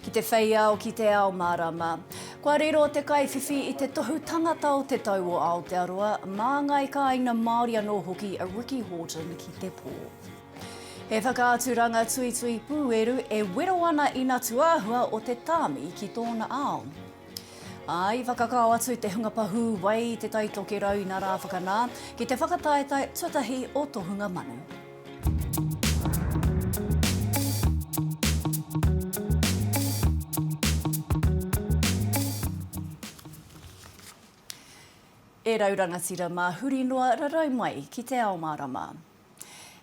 Ki te whei ao, ki te ao mārama. Kua riro te kaiwhiwhi i te tohu tangata o Te Tau o Aotearoa, mā ngāi kāinga Māori anō hoki a Ricky Horton ki te pō. He whakaaturanga tuitui pūeru e wero ana i na tuāhua o te tāmi ki tōna ao. Ā, i whakakao atu te hunga pahū wai i te tai tokerau ina rā whakanā, ki te whakataetae tuatahi o tohunga manu. E rau rangatira mā huri noa rarau mai ki te ao mārama.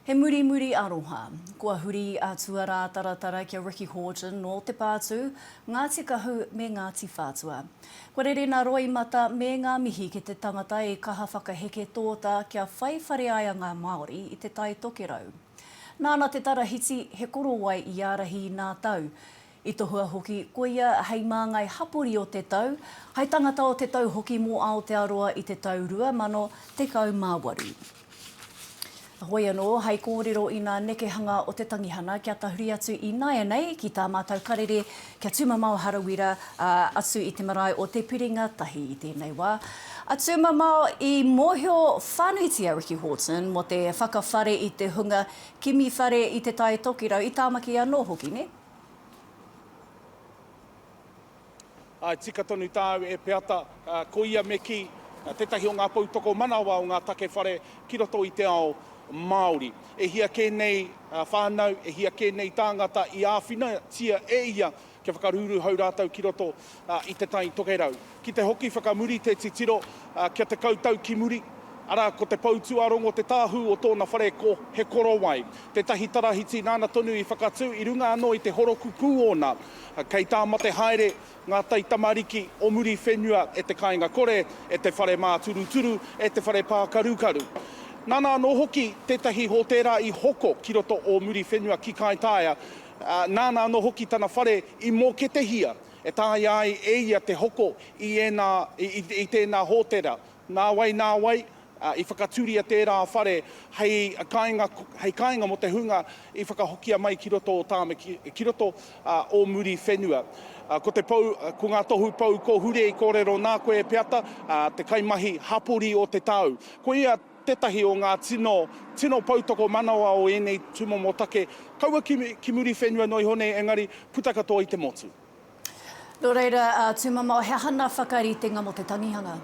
He murimuri aroha. Kua huri a Tuarātaratara kia Ricky Horton nō Te Pātū, Ngāti Kahu me Ngāti Whātua. Kua rere nā Roimata me ngā mihi ki te tangata i kaha whakaheke tōta kia whai whare ai a ngā Māori i Te Tai Tokerau. Nāna te tarahiti, he korowai i ārahi i nā tau, I tohua hoki ko ia hei māngai hapori o te tau, hai tangata o te tau hoki mō Aotearoa i te tau 2018. Heoi anō, hai kōrero i nā nekehanga o te tangihana kia tahuri atu i nāianei ki tā mātou karere kia tūmamao harawira atu i te marae o Te Piringa Tahi i tēnei wā. A Tūmamao, i mōhio whānuitia a Ricky Horton mō te whakawhare i te hunga kimi whare i Te Tai Tokirau, i Tāmaki anō hoki, nē? Āe, tika tonu tāu e Peata. Ko ia me kī, tētahi o ngā pou tokomanawa o ngā take whare ki roto i te ao Māori. E hia kē nei whānau, e hia kē nei tāngata i āwhinatia e ia kia whakarūrūhau rātou ki roto i te Tai Tokerau. Ki te hoki whakamuri te titiro kia tekau tau ki muri, arā, ko te Poutūārongo te tāhū o tōna whare ko He Korowai, tētahi tarahiti nāna tonu i whakatū i runga anō i te horoku pū ōna. Kei tā mate haere ngā taitamariki o Muriwhenua e te kāinga kore, e te whare māturuturu, e te whare pākarukaru. Nāna anō hoki tētahi hōtēra i hoko ki roto o Muriwhenua ki Kaitaia, nāna anō hoki tana whare i mōketehia. e taea ai e ia te hoko i ēnā, i tēnā hōtera. Nāwai, nāwai, i whakatūria tērā whare hei kāinga, hei kāinga mō te hunga i whakahokia mai ki roto o Tāmaki, ki roto o Muriwhenua. Ko te pou, ko ngā tohu pou ko Hurei kōrero nā koe e Peata, te kaimahi hapori o te tau. Koia. tētahi o ngā tino, tino poutokomanawa o ēnei tūmomo take, kaua ki, ki muri whenua noa iho nei, engari, puta katoa i te motu. Nō reira, ā, tūmamao, he aha ngā whakaritenga mō te tangihanga?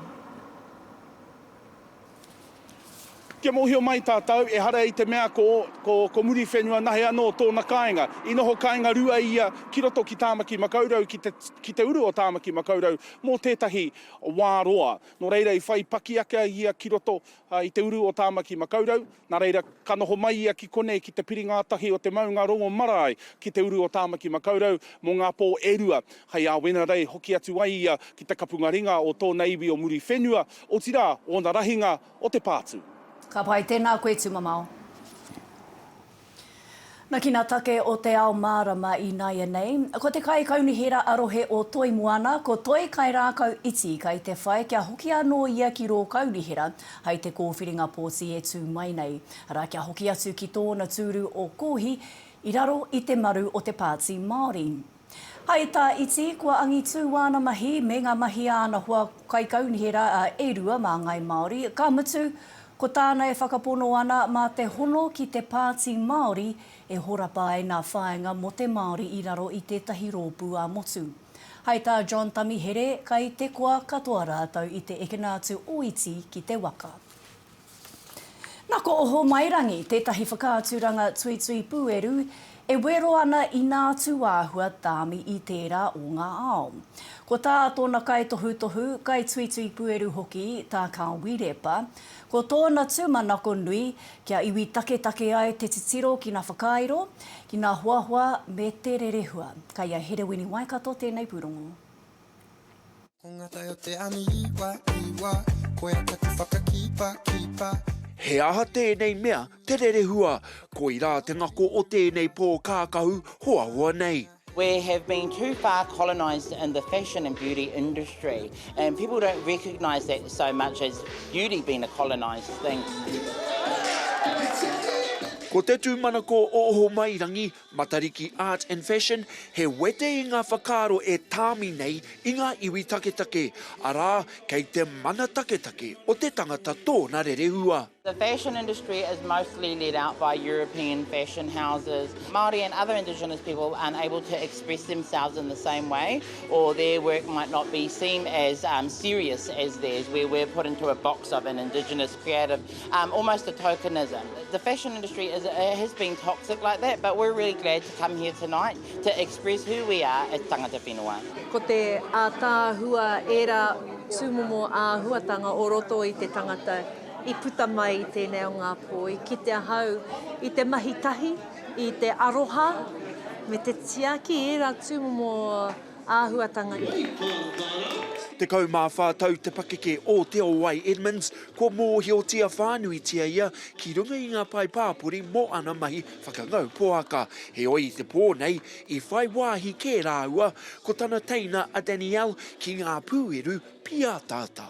Kia mōhio mai tātou, ehara i te mea ko, ko, ko Muriwhenua nahe anō tōna kāinga. I noho kāinga rua ia ki roto ki Tāmaki Makaurau, ki te, ki te uru o Tāmaki Makaurau, mō tētahi wā roa. Nō reira i whai paki ake a ia ki roto i te uru o Tāmaki Makaurau, nā reira ka noho mai ia ki konei ki te piri ngātahi o te maunga rongo marae ki te uru o Tāmaki Makaurau mō ngā pō e rua, hei āwenarei hoki atu ai ia ki te kapunga ringa o tōna iwi o Muriwhenua, otirā, ōna rahinga o Te Pātū. Ka pai, tēnā koe tū mamao. Na kina take o te ao marama i naianei, ko te kai kaunihera a rohe o Toi Moana ko Toi Kairākau Iti kai te whai kia hoki anō ia ki rō kaunihera hai te kōwhiringa pōti e tū mai nei, arā kia hoki atu ki tōna tūru o Kōhi i raro i te maru o te Pāti Māori. Hai tā iti, kua angitū āna mahi me ngā mahi a ana hoa kaikaunihi rā e rua mā Ngāi Māori, ka mutu, ko tāna e whakapono ana mā te hono ki te Pāti Māori e horapa ai ngā whāinga mō te Māori i raro i tētahi rōpū ā-motu. Hai tā John Tamihere, kai te koa katoa rātou i te ekena atu ō iti ki te waka. Na ko Ohomairangi tētahi whakaaturanga tuitui pūeru e wero ana i nā tūāhua tāmi i tērā o ngā ao. Ko tā tōna kaitohutohu, kaituitui pūeru hoki tā Kāwi Repa, ko tōna tūmanako nui kia iwi taketake ai te titiro ki nā whakairo, ki nā hoahoa me te rerehua. Kai a Herewini Waikato tēnei pūrongo. He aha tēnei mea te rerehua? Koirā te ngako o tēnei pō kākahu hoahoa nei. We have been too far colonised in the fashion and beauty industry and people don't recognise that so much as beauty being a colonised thing. Ko te tūmanako o Ohomairangi Matariki Art and Fashion, he wete i ngā whakaaro e tāmi nei i ngā iwi taketake, arā, kei te mana taketake o te tangata tōna rerehua. The fashion industry is mostly led out by European fashion houses. Māori and other indigenous people aren't able to express themselves in the same way, or their work might not be seen as serious as theirs, where we're put into a box of an indigenous creative, um, almost a tokenism. The fashion industry is, has been toxic like that, but we're really glad to come here tonight to express who we are as tangata whenua. Ko te ātaahua ērā tūmomo āhuatanga o roto i te tangata i puta mai i tēnei o ngā pō, i kite ahau i te mahi tahi, i te aroha, me te tiaki ērā tūmomo āhuatanga nei. Tekau mā whā tau te pakeke o Te Owai Edmonds, kua mōhiotia whānuitia ia ki runga i ngā pae pāpori mō ana mahi whakangau poaka. Heoi i te pō nei, i whai wāhi kē rāua ko tana teina a Danielle ki ngā pūeru pīataata.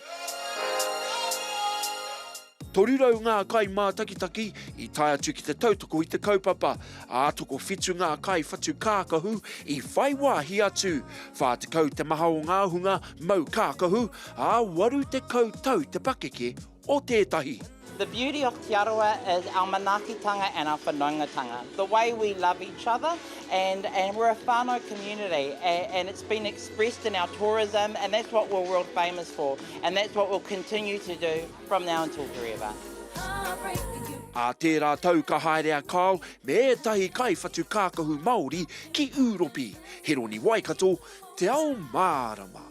300 ngā kai mātakitaki i tae atu ki te tautoko i te kaupapa, ā, tokowhitu ngā kai whatu kākahu i whai wāhi atu, 40 te maha o ngā hunga mau kākahu, ā, 80 tau te pakeke o tētahi. The beauty of Te Arawa is our manaakitanga and our whanaungatanga. The way we love each other and and we're a whānau community and it's been expressed in our tourism and that's what we're world famous for and that's what we'll continue to do from now until forever. Ā tērā tau ka haere a Kyle me ētahi kaiwhatu kākahu Māori ki Ūropi, Heroni Waikato, Te Ao Mārama.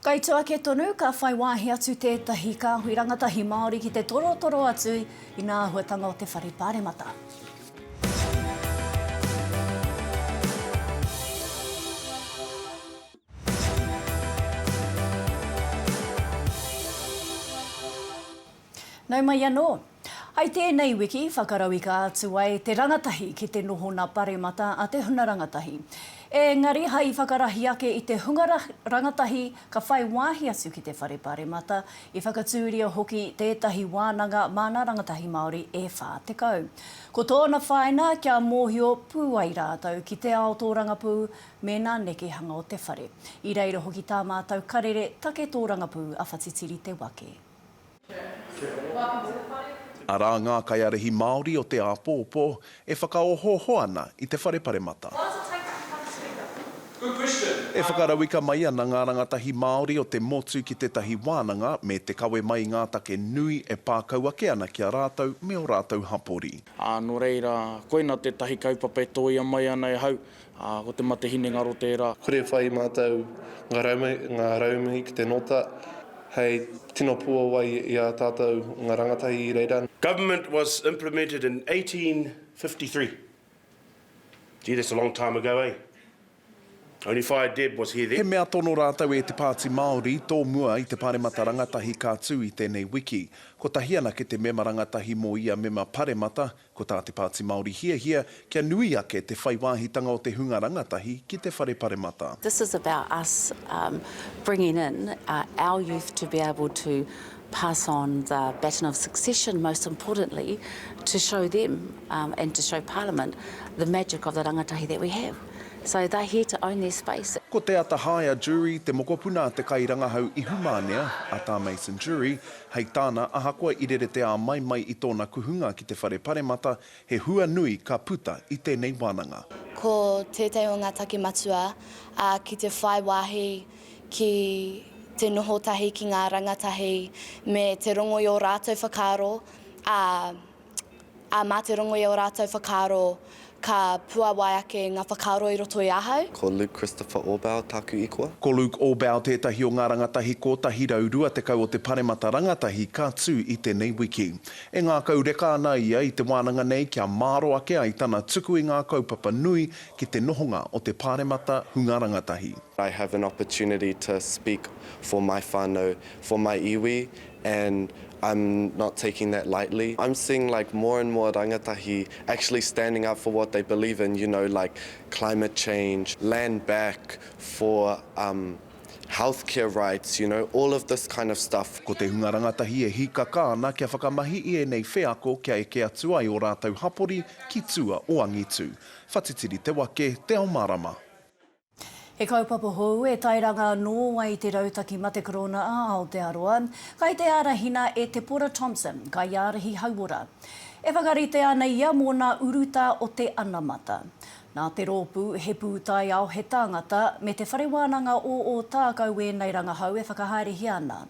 Kai tua ake tonu, ka whai wāhi atu tētahi kāhui rangatahi Māori ki te torotoro atu i ngā āhuatanga o te whare Pāremata. Nau mai anō. I tēnei wiki, whakarauika atu ai te rangatahi ki te nohona paremata a te huna rangatahi. Ēngari hai whakarahi ake i te hunga rangatahi ka whai wāhi atu ki te whare paremata, i whakatūria hoki tētahi wānanga māna rangatahi Māori e 40. Ko tōna whāina kia mōhio pū ai rātou ki te ao tōrangapū me nā nekehanga o te whare. I reira hoki tā mātou karere take tōrangapū a Whatitiri Te Wake. Arā ngā kaiārahi Māori o te āpōpō e whakaohooho ana i te whare paremata. E whakarauika mai ana ngā rangatahi Māori o te motu ki tētahi wānanga me te kawe mai i ngā take nui e pākau ake ana ki a rātou me ō rātou hapori. Ā, nō reira, koina tētahi kaupapa e tōia mai ana e hau, Ā, ko te mate hinengaro tērā. Kore e whai mātou ngā rauemi ki te nota hei tino puawai i ā tātou ngā rangatahi i reira. Government was implemented in 1853. Gee, that's a long time ago, eh? Only Whaea Deb was here then. He mea tono rātou e Te Pāti Māori, tōmua i te Pāremata Rangatahi ka tū i tēnei wiki. Kotahi anake te mema rangatahi mō ia mema paremata, Ko tā Te Pāti Māori hiahia kia nui ake te whai wāhitanga o te hunga rangatahi ki te whare paremata. This is about us bringing in our youth to be able to pass on the baton of succession, most importantly to show them and to show Parliament the magic of the rangatahi that we have. So they're here to own their space. Ko Te Atahaea Durie te mokopuna a te kairangahau ihumānea, a Tā Mason Durie, Hei tāna, ahakoa i rere te āmai mai i tōna kuhunga ki te whare paremata, he hua nui ka puta i tēnei wānanga. Ko tētahi o ngā take matua, ā, ki te whai wāhi ki te noho tahi ki ngā rangatahi me te rongo i ō rātou whakaaro, ā, ā, mā te rongo i ō rātou whakaaro ka puāwai ake ngā whakaaro i roto i ahau. Ko Luke Christopher Orbau tāku ikoa. Ko Luke Orbau tētahi o ngā rangatahi 120 o te Paremata Rangatahi ka tū i tēnei wiki. E ngākau reka ana ia i te wānanga nei kia māro ake ai tana tuku i ngā kaupapa nui ki te nohonga o te Pāremata Hunga Rangatahi. I have an opportunity to speak for my whānau, for my iwi and I'm not taking that lightly, I'm seeing like more and more rangatahi actually standing up for what they believe in, you know like climate change, land back for um health care rights, you know all of this kind of stuff. Ko te hunga rangatahi e hīkaka ana kia whakamahi i ēnei wheako kia eke atu ai ō rātou hapori ki tua o angitu. Whatitiri te wake, te ao mārama. He kaupapa hou e tairanga anō ai te Rautaki Mate Korona a Aotearoa. Kai te ārahina e Te Pora Thompson, kaiārahi hauora. E whakaritea ana ia mō nā urutā o te anamata. Nā te rōpū He Pūtaiao, He Tāngata me Te Whare Wānanga o Ōtākou ēnei rangahau e whakahaerehia ana.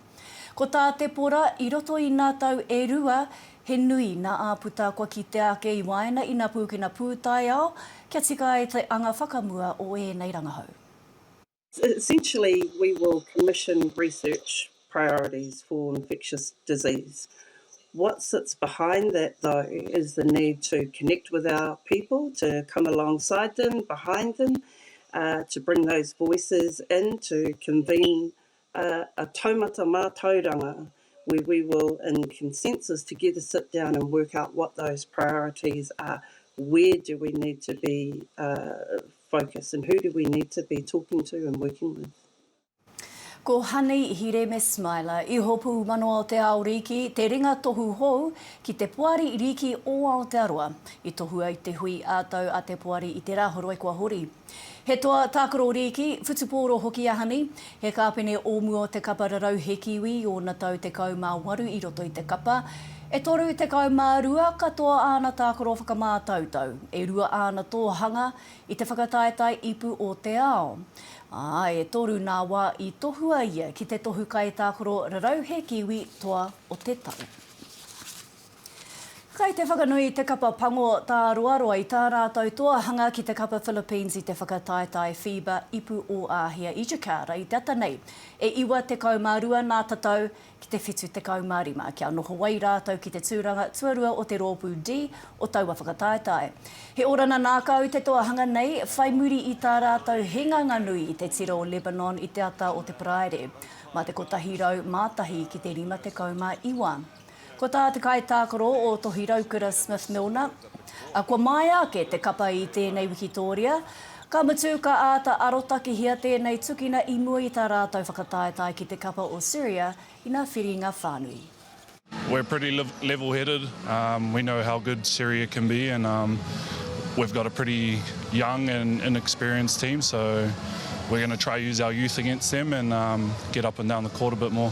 Ko tā Te Pora, i roto i nā tau e rua, he nui nā āputa kua kitea ake i waena i nā pūkena pūtaiao kia tika ai te anga whakamua o ēnei rangahau. Essentially we will commission research priorities for infectious disease. What sits behind that though is the need to connect with our people, to come alongside them, behind them, to bring those voices in, to convene A, a taumata mātauranga, where we will in consensus together sit down and work out what those priorities are, where do we need to be focused and who do we need to be talking to and working with. Ko Honey Hireme Smiler, Ihopu Mano o te Ao Rīki, te ringa tohu hou ki te Poari Rīki o Aotearoa. I tohua i te hui ā-tau a te Poari i te Rā Horoi kua hori. He toa tākaro rīki, whutupōro hoki a Honey. He kāpene o mua o te kapa rarau he Kiwi i ōna tau 18 i roto i te kapa. E 32 katoa āna tākaro whakamātautau, e rua āna tōhanga i te whakataetae ipu o te ao, ā, e toru nā wā i tohua ia ki te tohu kaitākaro rarau he Kiwi toa o te tau. Kei te whakanui i te kapa pango tā Roaroa i tā rātou toa hanga ki te kapa Philippines i te whakataetae FIBA Ipu Ō-āhia Educare i te ata nei. E iwa tekau mā rua nā tatau ki te whitu tekau mā rima kia noho ai rātou ki te tūranga tuarua o te rōpū D o taua whakataetae. He orana nākau te toa hanga nei, whai muri i tā rātou hinganga nui i te tira o Lebanon i te ata o te Paraire, mā te kotahi rau mā tahi ki te rima tekau mā iwa. Ko tā te kaitākaro o Tohi Raukura Smith Milner, Kua māia ake te kapa i tēnei wikitōria, ka mutu ka āta arotakehia tēnei tukina i mua i tā rātou whakataetae ki te kapa o Syria ina whiringa whānui. We're pretty level headed, we know how good Syria can be and we've got a pretty young and inexperienced team so we're going to try use our youth against them and get up and down the court a bit more.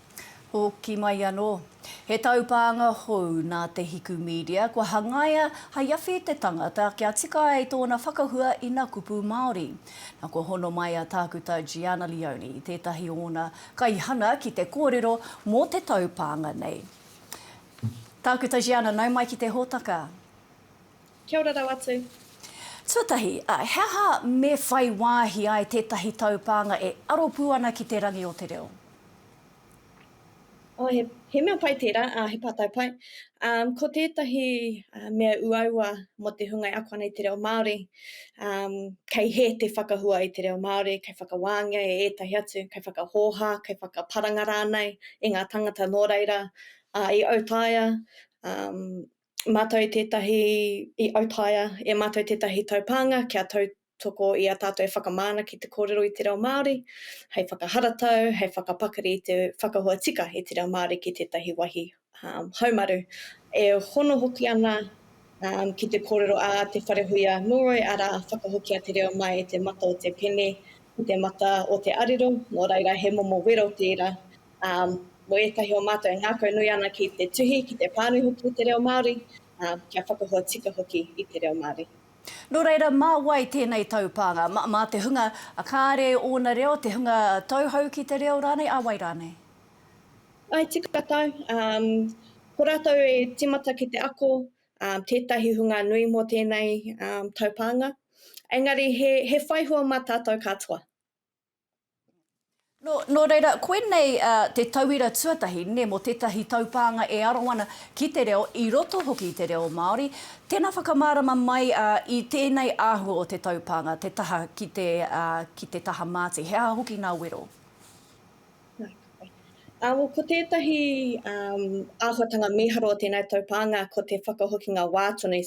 Hoki mai anō. He taupānga hou nā Te Hiku Media kua hangaia hai awhi te tangata kia tika ai tōna whakahua i nā kupu Māori. Na kua hono mai a Tākuta Gianna Leone, tētahi o ōna kaihana ki te kōrero mō te taupānga nei. Tākuta Gianna, nau mai ki te hōtaka. Kia ora rau atu. Tuatahi, he aha me whai wāhi ai tētahi taupānga e aro pū ana ki te rangi o te reo? Oh, he, he mea pai tērā, uh, he pātai pai. Um, ko tētahi uh, mea uaua mō te hunga e ako ana i te reo Māori, um, kei hē te whakahua i te reo Māori, kei whakawāngia e ētahi atu, kei whakahōhā, kei whakaparanga rānei i ngā tangata nō reira, uh, i autaia, um, mātou tētahi, i autaia e mātou tētahi taupānga kia tautoko i a tātou e whakamana ki te kōrero i te reo Māori, hei whakaharatau, hei whakapakari i te whakaahua tika i te reo Māori ki tētahi wāhi haumaru. E hono hoki ana ki te kōrero a Te Wharehuia Mulroy, arā, whakahokia te reo mai i te mata o te pene ki te mata o te arero, nō reira he momo wero tērā. Mo etahi o matou e ngakau nui ana ki te tuhi, ki te pānui hoki i te reo Māori, kia whakahoa tika hoki i te reo Māori. No reira, ma wai tenei taupānga? Ma te hunga kāre ōna reo, te hunga tauhou ki te reo rānei, a wai rānei? I te katau, ko ratou e timata ki te ako, tetahi hunga nui mo tenei taupānga. Engari he whaihua ma tatou katoa. Nō reira, koinei te tauira tuatahi mō tētahi taupānga e aro ana ki te reo, i roto hoki i te reo Māori. Tēnā whakamārama mai i tēnei āhua o te taupānga, te taha ki te ki te taha māti. He aha hoki ngā wero? Ko tētahi āhuatanga mīharo o tēnei taupānga ko te whakahokinga wā tonu.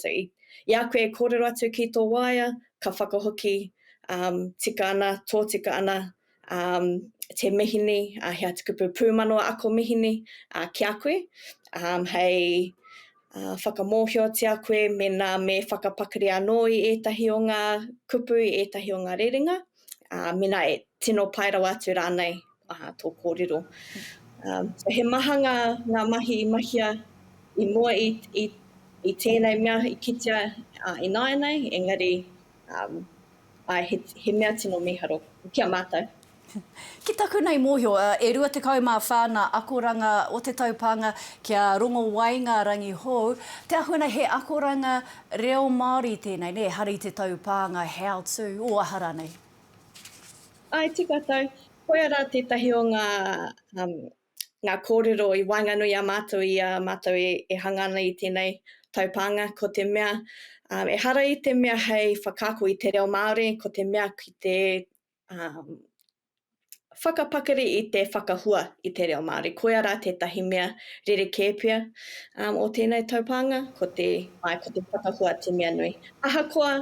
I a koe e kōrero atu ki tō waea, ka whakahoki, um, tika ana, tōtika ana, um, te mihini, uh, he atukupu pūmanawa ako mihini uh, ki a koe, um, hei uh, whakamōhiotia koe mena me whakapakari anō i ētahi o ngā kupu, i ētahi o ngā rerenga, uh, mena e tino pai rawa atu rānei. Aha tō kōrero? So he maha ngā mahi i mahia i mua i tēnei mea i kitea ināianei, engari he mea tino mīharo ki a mātou. Ki taku nei mōhio, e 24 ngā akoranga o te taupānga ki a Rongowaingarangi hou. Te ahuanei he akoranga reo Māori tēnei, nē, hari te taupānga how to, o aha rānei? Āe, tē koutou. Koia rā tētahi o ngā, um, ngā kōrero i waenganui i a mātou i a mātou e, e hanga ana i tēnei taupānga, ko te mea, um, ehara i te mea hei whakaako i te reo Māori, ko te mea ki te, um, whakapakari i te whakahua i te reo Māori. Koia rā tētahi mea rerekē pea, um, o tēnei taupānga, ko te, āe, ko te whakahua te mea nui. Ahakoa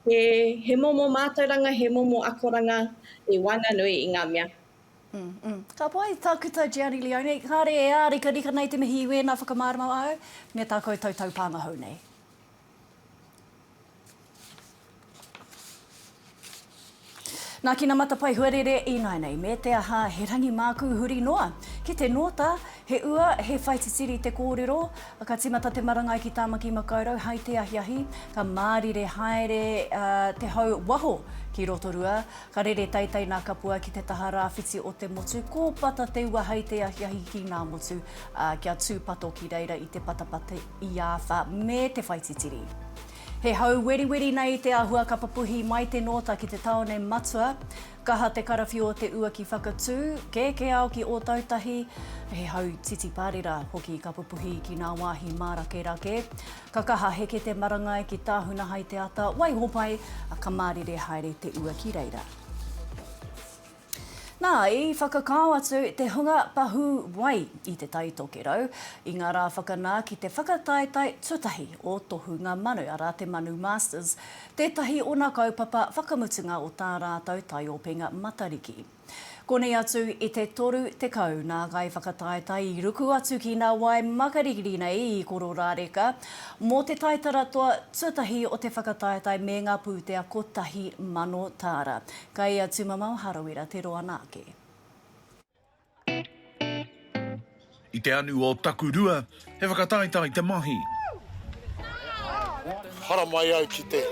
He momo mātauranga, he momo akoranga e waenganui i ngā mea. Ka pai, Tākuta Gianni Leone. Kāre e ārikarika nei te mihi i wēnā whakamārama āu me tā koutou taupānga hou nei. Nā Kina Matapae Huarere Ināinei me te aha he rangi mākū huri noa ki te nōta He ua, he whaititiri te kōrero Ka tīmata te marangai ki Tāmaki Makaurau Hai te ahiahi ka mārire haere te hau waho ki Rotorua Ka rere teitei nā Kapua ki te taha rāwhiti o te motu Ko Pata te ua hai te ahiahi ki Ngāmotu Kia tūpato ki reira i te patapata i āwha me te whaititiri He hau weriweri nei te ahua ka papuhi mai te nōta ki te taone matua. Kaha te karawhiu o te ua ki Whakatū, kēkē ao ki Ōtautahi. He hau titi pārera hoki ka pupuhi ki ngā wāhi mārakerake. Ka kaha heke te marangai ki Tāhuna hai te ata, waiho pai, ka mārire haere te ua ki reira. Nā, i whakakao atu te hunga pahū wai i Te Tai Tokerau i ngā rā whakanā ki te whakataetae tuatahi o Tohunga Manu, arā, te Manu Masters, tētahi ōna kaupapa whakamutunga o tā rātou taiopenga Matariki. Konei atu i te toru tekau nā Ngai Whakataetae i ruku atu ki nā wai makariri nei i Kororāreka mō te taitara toa tuatahi o te whakataetae me ngā pūtea kotahi mano tāra Kai ia tumamao Harawira te roa na ke. I te anu o taku rua, he whakataetae te mahi. Haramai au ki te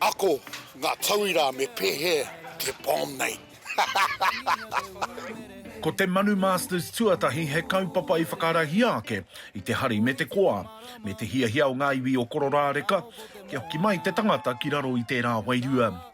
ako nga tauira me pehe te bomb nei. Ko te Manu Masters tuatahi he kaupapa i whakarahia ake i te hari me te koa, me te hiahia o nga iwi o Kororāreka kia hoki mai te tangata ki raro i tērā wairua.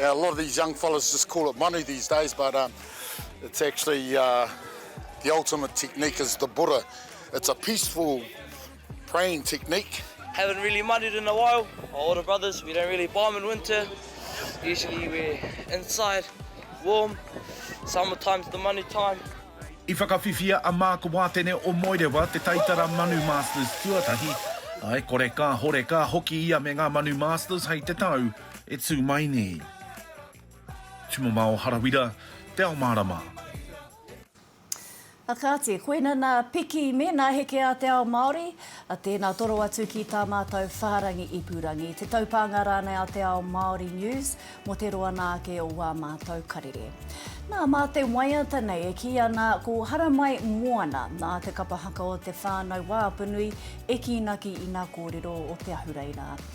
A lot of these young fellas just call it manu these days but um, it's actually uh, the ultimate technique is the Buddha. It's a peaceful praying technique. Haven't really manued in a while. Our older brothers, we don't really bomb in winter. Usually we're inside, warm. Summertime's the manu time. I whakawhiwhia a Mark Wātene o Moerewa te taitara Manu Masters tuatahi. Ae kore ka hore ka hoki ia me ngā Manu Masters hei te tau. e tū mai nei. Tumamao Harawira, Te Ao Mārama. A kāti, koina nā Piki me nā Heke a te Ao Māori, a tēnā toro atu ki tā mātou whārangi ipurangi, te taupānga rānei a Te Ao Māori News mō te roa nā ake o wā mātou karere. Nā, mā te waiata nei e kī ana ko Haramai Moana, nā te kapa haka o te whānau wāpunui e kīnaki i nā kōrero o Te Ahureina.